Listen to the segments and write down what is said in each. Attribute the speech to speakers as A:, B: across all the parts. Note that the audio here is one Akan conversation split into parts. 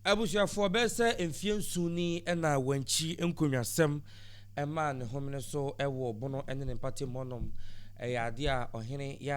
A: Abusuafoɔ bɛyɛ sɛ mfeɛ nson ni na wɔankyi nkonnwasɛm mmaa ne homene so wɔ Bono ne ne mpɔtam hɔnom. Ɛyɛ adeɛ a ɔhene yɛ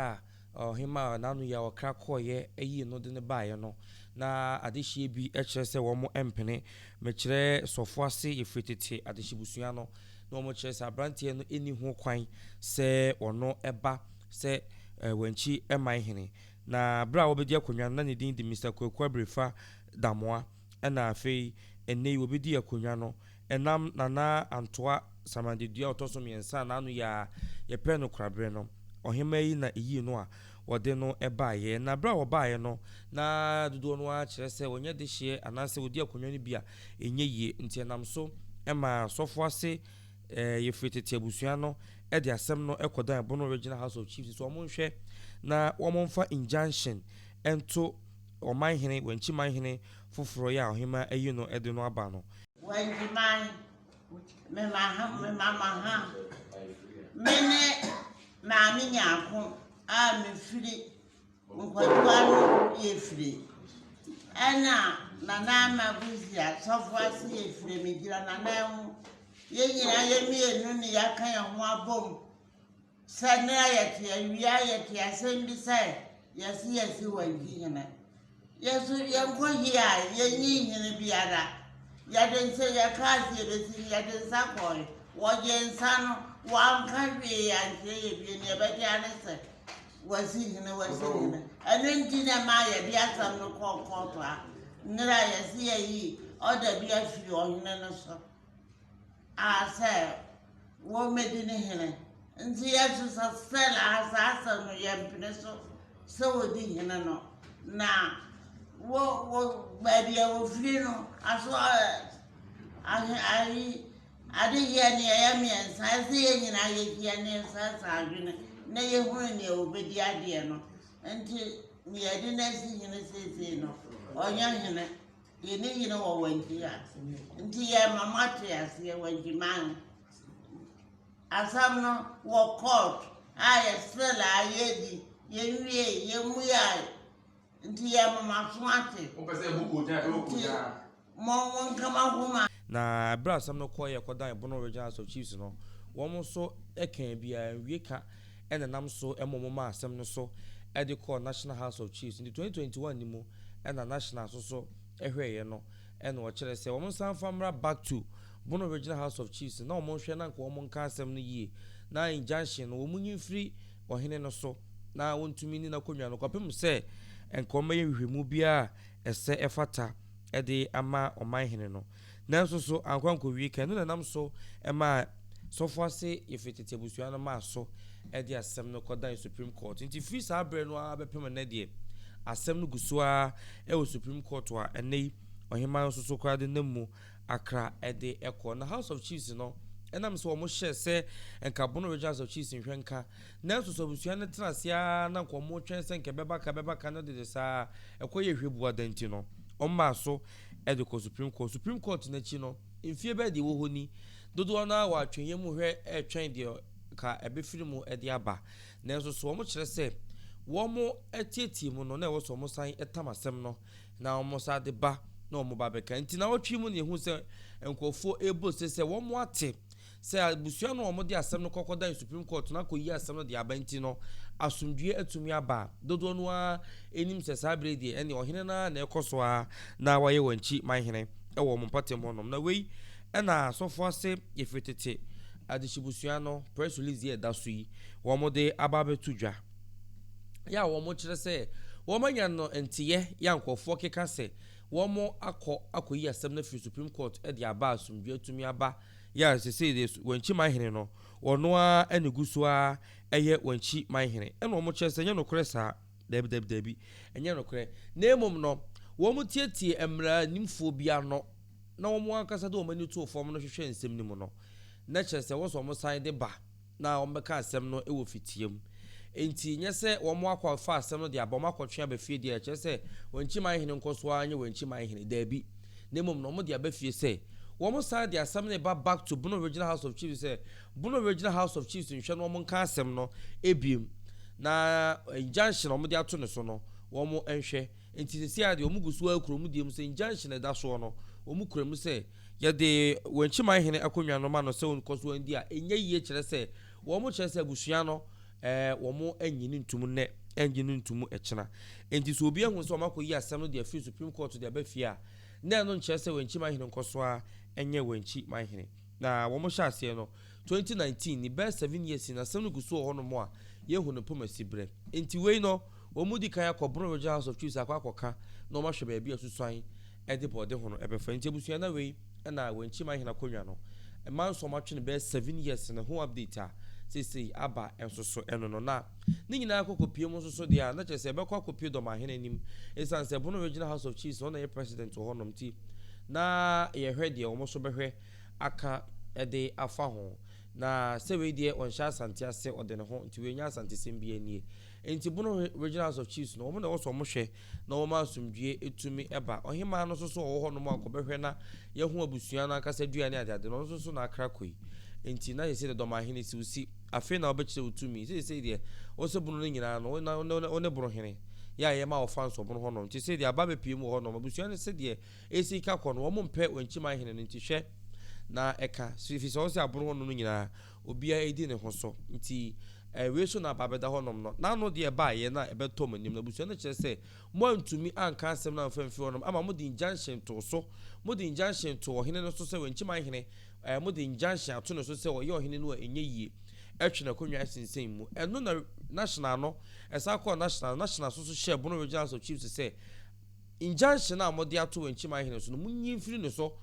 A: a ɔhemaa n'ano yɛ a ɔkra kɔeɛ yii no de no baeɛ no. Na adehyeɛ bi kyerɛ sɛ wɔmpene. Mekyerɛ sɔfoɔ ase yɛ firi tete adehyebusua no na wɔkyerɛ sɛ aberanteɛ no nni ho kwan sɛ ɔno ba sɛ wɔankyi mman hene. Na bere a wobedi akonnwa no, na ne din de Mister Kwaku Abirifa Damoa, ɛna afei ɛnnɛ yi wobedi akonnwa no ɛnam Nana Antoa Samandedua a ɔtɔ so mmiɛnsa a n'ano yɛ a yɛpɛɛ no kora bere no ɔhemmaa yi na eyii no a wɔde no baeɛ. Na bere a wɔbaeɛ no, na dodoɔ no ara kyerɛ sɛ wɔnyɛ dehyeɛ anaasɛ wɔdi akonnwa no bi a ɛnyɛ yie nti ɛnam so maa sɔfoase Eh, yɛfiri tete abusua no de asɛm no kɔdan Bono Regional House of Chiefs sɛ wɔnhwɛ na wɔmfa injunction nto Ɔmanhene, Wankyi Manhene foforɔ yi a Ɔhemmaa ayi no de no aba no. Wankyi man,
B: mema ha, mema ma ha. Mene Maame Nyarko a mefiri. Nkwagyewa no bi efire. Ɛna nana ama buzi asɔfo ase yɛ efire mi gyina nana ho. Yɛn nyinaa yɛ mmienu ne yɛaka yɛn ho abom sɛ ne a yɛte awia yɛte asɛm bi sɛ yɛse yɛse wagyi hene. Yɛso yɛnkɔ hi a yɛnyi hene biara. Yɛde nsa yɛka ase yɛbɛsi yɛde nsa kɔe. Wɔgye nsa no wɔanka hwee ankyerɛ yɛ bie ne yɛbɛte ane sɛ Wɔdzi hene, wɔdzi hene. Ɛno nti na ɛmaa yɛde asɛm no kɔɔ kɔɔto ha. Nnɛr a yɛse yɛyi order bi afiri ɔhene no so a sɛ wɔmmɛdi ne hene. Nti yɛ nso sɛ still aha saa asɛm no yɛmpene so sɛ wɔdi hene no. Na wo wo baabi a wɔfiri no aso ɛ ahe ayi Adeyɛ no yɛyɛ mmiɛnsa, ɛsɛ sɛ yɛn nyinaa yɛdi yɛn nsa san adwene na yɛhunu nea wɔbɛdi adeɛ no. Nti nea yɛde no asi hene seesei no, ɔnyɛ hene. Yɛne hene wɔ Wangi ha. Nti yɛma moate aseɛ Wangi man. Asɛm no wɔ court a yɛsrɛla a yɛdi, yɛnwie, yɛmmuae. Nti yɛma mo aso ate. Wopɛ sɛ ɛbu kogya a,
C: ɛwɔ kogya. Nti Mɔ
B: wɔn nka m'ahoma. Na bere a asɛm
A: no kɔe yɛ kɔdan Bono Regional House of Chiefs no, wɔn nso kaa bi a nwie ka na ɛnam so ma wɔn maa asɛm no so de kɔɔ National House of Chiefs. Nti 2021 no mu na National nso so hwɛeɛ no na wɔkyerɛ sɛ wɔn nsan mfa mmra back to Bono Regional House of Chiefs na wɔn nhwɛ na nka wɔn nka asɛm no yie na injunction no wɔn nyi mfiri ɔhene no so na wɔntumi nni n'akonnwa no kɔpem sɛ nka wɔn bɛyɛ nhwehwɛmu biara a ɛsɛ ɛfata de ama ɔmanhene no. Nanso so ankɔ ankɔwie kan? Ɛno na ɛnam so maa sɔfo ase Yefune tete abusua no maa so de asɛm no kɔdan Supreme Court. Enti firi saa bere no ara bɛpem nnɛ deɛ, asɛm no gu so ara wɔ Supreme Court a ɛnnɛ yi ɔhemmaa no nso so koraa de nam mu akra de kɔ. Na House of Chiefs no, ɛnam sɛ wɔhyɛɛ sɛ nka Bono Region House of Chiefs nhwɛ nka Nanso so abusua no tena ase ara na anka wɔretwɛn sɛ anka ɛbɛba kan ɛbɛba kan na dede saa ara ɛkɔ yɛ hwɛbuada nti no, wɔmaa so de kɔɔ Supreme Court. Supreme Court no akyi no, mfeɛ bɛyɛ deɛ ɛwɔ hɔ ni, dodoɔ no ara wɔ atwenyɛ mu hwɛ retwɛn deɛ anka ɛbɛfiri mu de aba. Nanso so wɔkyerɛ sɛ wɔteetee mu no, na ɛwɔ sɛ wɔsan tam asɛm no na wɔsan de ba na wɔba abɛka. Nti nnawɔtwe yi mu na yɛhu sɛ nkurɔfoɔ rebɔ ose sɛ wɔate Sɛ abusua no a wɔde asɛm no kɔkɔdan Supreme Court na akoyi asɛm no de aba nti no asomdwoe atumi aba a, dodoɔ no ara nim sɛ saa berɛ yi deɛ ɛnneɛ ɔhene no ara na ɛkɔ so ara na wayɛ wɔn akyi man hene wɔ wɔn mpɔtam hɔnom. Na wei na asɔfoɔ ase ɛfiri tete adehyebusua no press release yi a ɛda so yi wɔde aba abɛto dwa yɛ a wɔkyerɛ sɛ wɔanya no nteyɛ yɛ a nkurɔfoɔ keka sɛ wɔakɔ akɔyi asɛm no afiri Supreme Court de aba a asomdwoe atumi aba yɛ a sesei deɛ Wankyi man hene no, ɔno ara na ɛgu so ara yɛ Wankyi man hene. Ɛna wɔkyerɛ sɛ ɛnyɛ nokorɛ saa. Daabi, daabi, daabi. Ɛnyɛ nokorɛ. Na mmom no, wɔtietiee mmaranimfoɔ bi ano, na wɔn ankasa de wɔn ani too fam no hwehwɛɛ nsɛm no mu no, na kyerɛ sɛ wɔn nso wɔsan de ba. na wɔbɛka asɛm no wɔ fitia mu. Enti, nyɛ sɛ wɔakɔfa asɛm no de aba, wɔakɔtwe aba fie deɛ ɛkyerɛ sɛ wɔn nkyiman hene nkɔso ara nyɛ wɔn nkyiman hene. Dabi, na mmom no wɔde aba fie sɛ wɔsan de asɛm no reba back to Bono Regional House of Chiefs sɛ Bono Regional House of Chiefs nhwɛ na wɔnka asɛm no biom na injunction a wɔde ato ne so no wɔnhwɛ. Enti seesei ara deɛ wɔgu so ara kura wɔn deɛ mu sɛ injunction a ɛda soɔ no wɔkura mu sɛ Yɛde wɔn akyi man hene akonnwa no ma no sɛ ɔnkɔ so ndi a, ɛnyɛ yie kyerɛ sɛ wɔkyerɛ sɛ abusua no wɔnnye no ntom nnɛ, ɛrennye no ntom ɛkyena. Enti sɛ obi ahu sɛ wɔakɔyi asɛm no de afiri Supreme Court de aba fie a, na ɛno nkyerɛ sɛ wɔn akyi man hene nkɔ so ara nyɛ wɔn akyi man hene. Na wɔhyɛ aseɛ no, Twenty nineteen ne bɛyɛ seven years ni asɛm no gu so wɔ hɔnom a yɛhu no mpo ma si brɛ. Enti wei no wɔn mu di kan akɔ Bono Regional House of Chiefs akɔ akɔka na wɔn ahwɛ baabi a susuan de bɔɔde ho no bɛfa. Enti abusua na wei na wɔn akyi man hene akonnwa no mma nso wɔatwe no bɛyɛ seven years no ho update a seesei aba nso so ɛno no na ne nyinaa akɔ kɔpie mu nso so deɛ a na kyerɛ sɛ ɛbɛkɔ akɔpie dɔ man hene anim ɛsiane sɛ Bono Regional House of Chiefs no na ɛyɛ president wɔ hɔnom nti na yɛhwɛ deɛ wɔn nso bɛhwɛ aka de afa ho, na sɛ wei deɛ ɔnhyɛ Asante ase ɔde ne ho, nti wei nyɛ Asantesɛm bi anie. Nti Bono Regional House of Chiefs no, wɔn na ɛwɔ sɛ wɔn hwɛ na wɔn ma asomdwie tumi ba. Ɔhemaa no nso so ɔwɔ hɔ nom a ɔkɔbɛhwɛ na yɛho abusua no ankasa dua ne adeade no, ɔno nso so n'akra kɔ yi. Nti na yɛsɛ deɛ Dɔmahene si wo si, afei na wobɛkyerɛ wo tumi, seisei deɛ wo sɛ Bono no nyinaa no wo ne Bonohene yɛ a yɛma wɔfa nsɔ Bono hɔ nom, nti sɛdeɛ aba bɛpue mu wɔ hɔ nom, abusua no sɛdeɛ Esi ka kɔ no wɔn mpɛ wɔn nkyiman hene no nti hwɛ na ɛka so fisɛ ɔse aboro hɔ nom no nyinaa obia edi ne ho so nti ɛɛ wei so na aba abɛda hɔ nom no n'ano deɛ ɛbaa yɛ na ɛbɛtɔ mo anim na abusua no kyerɛ sɛ mo antumi anka asɛm no amfa mfiri hɔ nom ama mo de injunction too so mo de injunction too ɔhene no so sɛ wɔn nkyiman hene ɛɛ mo de injunction ato ne so sɛ ɔyɛ ɔhene no a ɛnyɛ yie ɛtwe n'akonnwa ɛsensɛn mu ɛno na national no ɛsan kɔɔ national no national so so hyɛɛ bono regional house of chiefs sɛ Injunction a wɔde ato Wenchim Ahene so no, munyi mfiri ne so.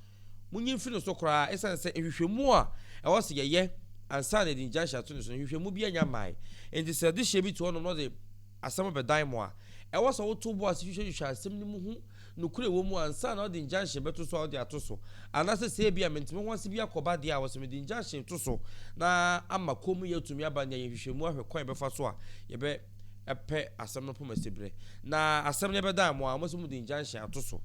A: Munyi mfiri ne so koraa esiane sɛ nhwehwɛmu a ɛwɔ sɛ yɛyɛ ansa na yɛde injunction ato ne so no, nhwehwɛmu biara nnya mmae. Enti sɛ adehyeɛ bi te hɔnom na ɔde asɛm bɛdan mo a, ɛwɔ sɛ woto bo ase hwehwɛhwehwɛ asɛm no mu hu nokorɛ a ɛwɔ mu ansa na wode injunction bɛto so a wode ato so. Anaasɛ sɛ ebia mente me ho ase bi akɔ ba deɛ a, ɛwɔ sɛ mede injunction to so na ama kommyɛ atumi aba nea yɛn nhwehwɛmu ahwɛ kwan a yɛbɛfa so a yɛbɛ pɛ asɛm no poma siberɛ, na asɛm no bɛdan mo a wɔn sɛ mo de injunction ato so.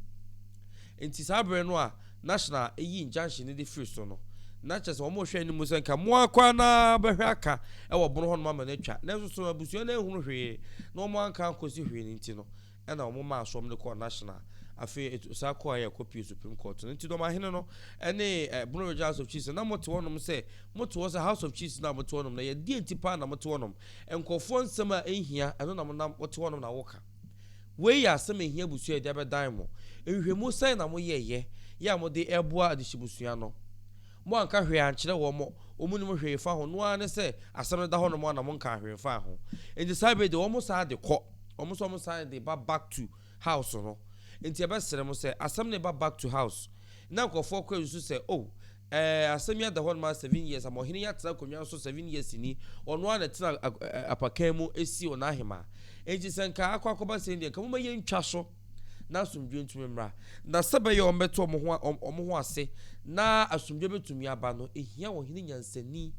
A: Nti saa berɛ no a national yi injunction no de firi so no, na kyerɛ sɛ wɔn rehwɛ anim sɛ nka mo ara koraa na bɛhwɛ aka wɔ bono hɔ nom ama no atwa, nanso so abusua no anhunu hwee na wɔn anka ankɔsi hwee no nti no, Ɛna wɔn maa soɔm no kɔɔ national afei et osan kɔɔ ayɛ kɔ pie supreme court no nti dɔm ahene no ɛne eh bono region house of chiefs na mote hɔ nom sɛ mote hɔ sɛ house of chiefs no a mote hɔ nom no ɛyɛ deɛ nti paa na mote hɔ nom nkorɔfoɔ nsɛm a ɛnhia ɛno na monam wote hɔ nom na woka wei yɛ asɛm ɛhia abusua yɛde abɛdan mo nhwehwɛmu sɛn na moyɛɛyɛ yɛ a mode ɛboa adehye busua no mo anka hwee ankyerɛ wɔn mo wɔn nim hwee fa ho no ara ne sɛ asɛm no da hɔ nom a na monkaa hwee mfaa ho nti saa bɛ de wɔn saa de kɔ Wɔn nso wɔn san de ba back to house no nti yɛbɛ srɛ mo sɛ asɛm no ba back to house na nkorɔfoɔ kɔ nsu sɛ oh ɛɛ asɛm yi ada hɔ noma seven years ama ɔhene yi atena akonnwa nso seven years ni ɔno ara na ɛtena apakan mu ɛsi ɔna ahemaa nti sɛ nka akɔ akɔba sɛn deɛ nka moma yɛntwa so na asomdwoe ntumi mmra. Na sɛ ɛbɛyɛ a wɔbɛte wɔn ho, wɔn ho ase na asomdwoe bɛtumi aba no, ɛhia ɔhene nyansani,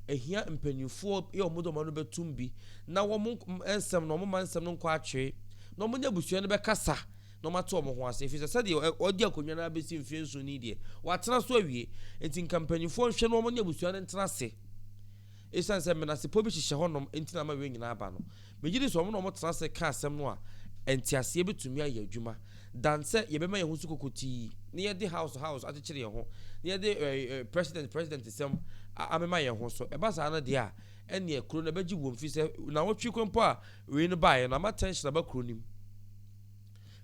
A: ɛhia mpanimfoɔ yɛ wɔn de wɔn ano bɛtum bi, na wɔn nsɛm no, wɔn ma nsɛm no nkɔ akyere, na wɔn ne abusua no bɛkasa, na wɔn ate wɔn ho ase. Ɛfiri sɛ sɛdeɛ ɔdi akonnwa no abɛsi mfeɛ nson ni deɛ, watena so awie. Nti nka mpanimfoɔ nhwɛ na wɔn ne abusua no ntena ase. Esiane sɛ menasepɔ bi hyehyɛ hɔnom nti na ama wei nyinaa aba no, megye di sɛ wɔn na wɔtena ase ka asɛm no a nteaseɛ betumi ayɛ adwuma, than sɛ yɛbɛma yɛn ho so kokotii na yɛde house house akyekyere yɛn ho, na yɛde president president nsɛm amema yɛn ho so. Ɛba saa no deɛ a, ɛnneɛ kuro no ɛbɛgye wuo, mfiri sɛ nnawɔtwe kɔ mpo a wei no baeɛ no, ama tension aba kuro no mu.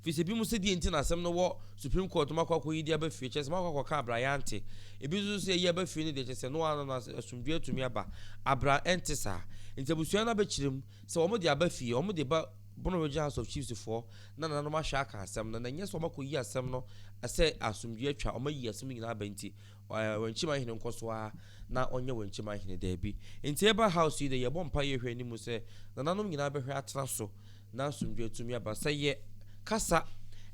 A: Efisɛ ebinom sɛ deɛ nti na asɛm no wɔ Supreme Court no makɔ akɔyi de aba fie kyerɛ sɛ makɔ akɔka abira yɛante. Ebi nso sɛ yɛyi aba fie no deɛ kyerɛ sɛ noaa no na asomdwoeɛ atumi aba. Abira ɛnte saa. Enti abusua no abɛkyerɛ mu sɛ wɔn de aba fie, wɔn de ba Bono Regional House of Chiefs foɔ na nananom ahwɛ aka asɛm no na ɛnyɛ sɛ wɔakɔyi asɛm no sɛ asomdwoeɛ atwa wɔayi asɛm no nyinaa aba nti. Wɔn kyima hene nkɔ so ara na ɔnyɛ wɔn kyima hene daabi. Nti yɛba house yi dɛ yɛbɔ mpae yɛ hwɛ anim sɛ nananom nyinaa bɛhwɛ atena so na asomdwoe atumi aba. Sɛ yɛ kasa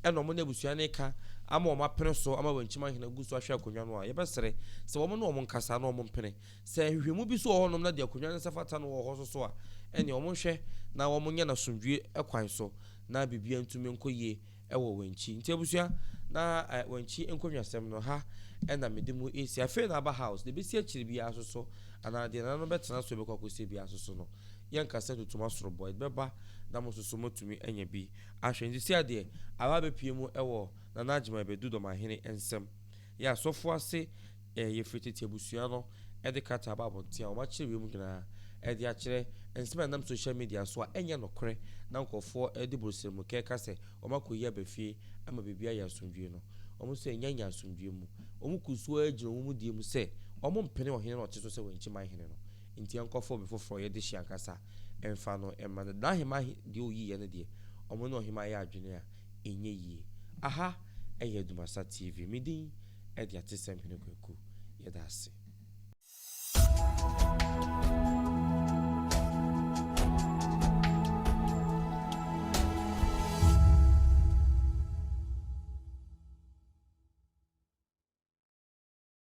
A: ɛna wɔn ne abusua no reka ama wɔn apene so ama wɔn kyima hene agu so ahwɛ akonnwa no a, yɛbɛsrɛ sɛ wɔn ne wɔn nkasa na wɔn mpene. Sɛ nhwehwɛmu bi so wɔ hɔnom na deɛ akonnwa no nsa fata no wɔ hɔ nso so a, ɛneɛ wɔn nhwɛ na wɔn nyɛ no asomdwoe kwan so na biribiara ntumi nkɔ yie. wɔ Wenchi. Nti abusua, na Wenchi nkonnwasɛm no, ha na mede mo resi. Afei na aba house, deɛ ɛbɛsi akyire biara nso so, anaa deɛ nananom bɛtena so bɛkɔ akɔsie biara nso so no, yɛnka sɛ tutum asorobɔ, ɛde bɛba na mo nso so moatumi anya bi ahwɛ. Nti seadeɛ, Awa bɛpue mu wɔ Nana Agyemang Badu Dɔmahene nsam. Yɛ asɔfo ase ɛ Yɛfiri tete abusua no de krataa aba abɔnten a wɔakyerɛ wiem nyinaa de akyerɛ nsɛm a ɛnam sohyial midia so a ɛnyɛ nokorɛ na nkorɔfoɔ de borosrɛmu kɛka sɛ wɔakɔyi aba fie ama biribiara ayɛ asomdwoeɛ no. Wɔn nso annya nyɛ asomdwoeɛ mu. Wɔn kuu so ara gyina wɔn mu die mu sɛ wɔmpene ɔhene no a ɔte so sɛ wɔn kyiman hene no nti ɛnkɔfa obi foforɔ yɛ dehye ankasa mfa no mma no. N'ahemman deɛ ɔyiiɛ no deɛ, wɔne ɔhemmaa yɛɛ adwene a Ɛnyɛ yie. Aha ɛyɛ Dumasa TV. Me din ɛde Atesɛm Hene Kwaku. Yɛda ase.